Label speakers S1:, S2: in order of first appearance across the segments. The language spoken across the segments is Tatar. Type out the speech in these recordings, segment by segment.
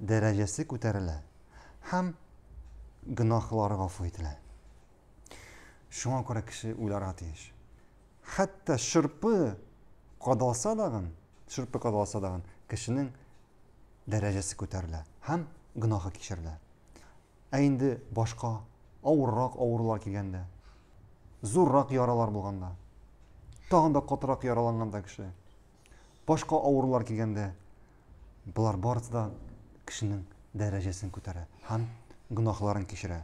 S1: дәрәҗәсе күтәрелә һәм гөнаһлары гафу ителә. Шуңа күрә кеше уйларга тиеш. Хәтта шырпы кадалса дагын, шырпы кадалса дагын, кешенең дәрәҗәсе күтәрелә һәм гөнаһы кичерелә. Ә инде башка авыррак авырулар килгәндә, зуррак яралар булганда, тагын да катырак яраланганда кеше Башка авырулар килгәндә, болар барысы да кешенең дәрәҗәсен күтәрә һәм гөнаһларын кичерә.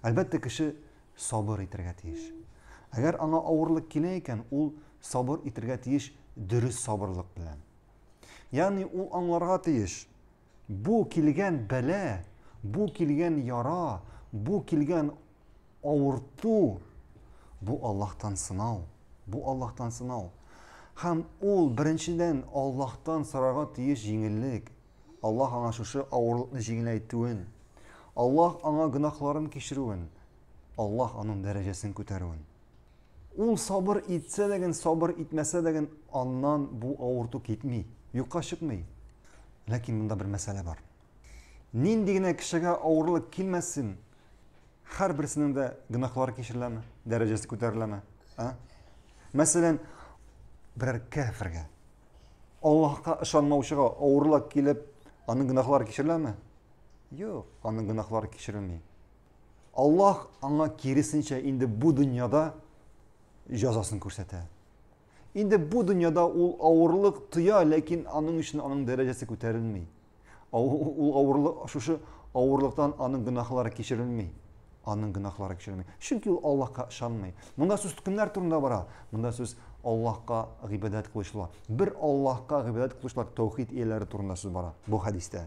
S1: Әлбәттә, кеше сабыр итәргә тиеш. Әгәр аңа авырлык килә икән, ул сабыр итәргә тиеш дөрес сабырлык белән. Ягъни ул аңларга тиеш, Бу килгән бәла, бу килгән яра, бу килгән авырту, бу Аллаһтан сынау, бу Аллаһтан сынау. Һәм ул беренчедән Аллаһтан сорарга тиеш җиңеллек. Аллаһ аңа шушы авырлыкны җиңеләйтүен, Аллаһ аңа гөнаһларын кичерүен, Аллаһ аның дәрәҗәсен күтәрүен. Ул сабыр итсә дәген, сабыр итмәсә дәген, аннан бу авырту китми, юкка чыкмый. Ләкин монда бер мәсьәлә бар. Нинди генә кешегә авырлык килмәсен, һәрберсенең дә гөнаһлары кичереләме, дәрәҗәсе күтәреләме? А? Мәсәлән, берәр кәфергә, Аллаһка ышанмаучыга авырлык килеп, аның гөнаһлары кичереләме? Юк, аның гөнаһлары кичерелми. Аллаһ аңа киресенчә инде бу дөньяда җәзасын күрсәтә. Инде бу дөньяда ул авырлык тоя, ләкин аның өчен аның дәрәҗәсе күтәрелми. Ул авырлык, шушы авырлыктан аның гөнаһлары кичерелми. Аның гөнаһлары кичерелми. Чөнки ул Аллаһка ышанмый. Монда сүз кемнәр турында бара? Монда сүз Аллаһка гыйбадәт кылучылар. Бер Аллаһка гыйбадәт кылучылар тәүхид ияләре турында сүз бара бу хәдистә.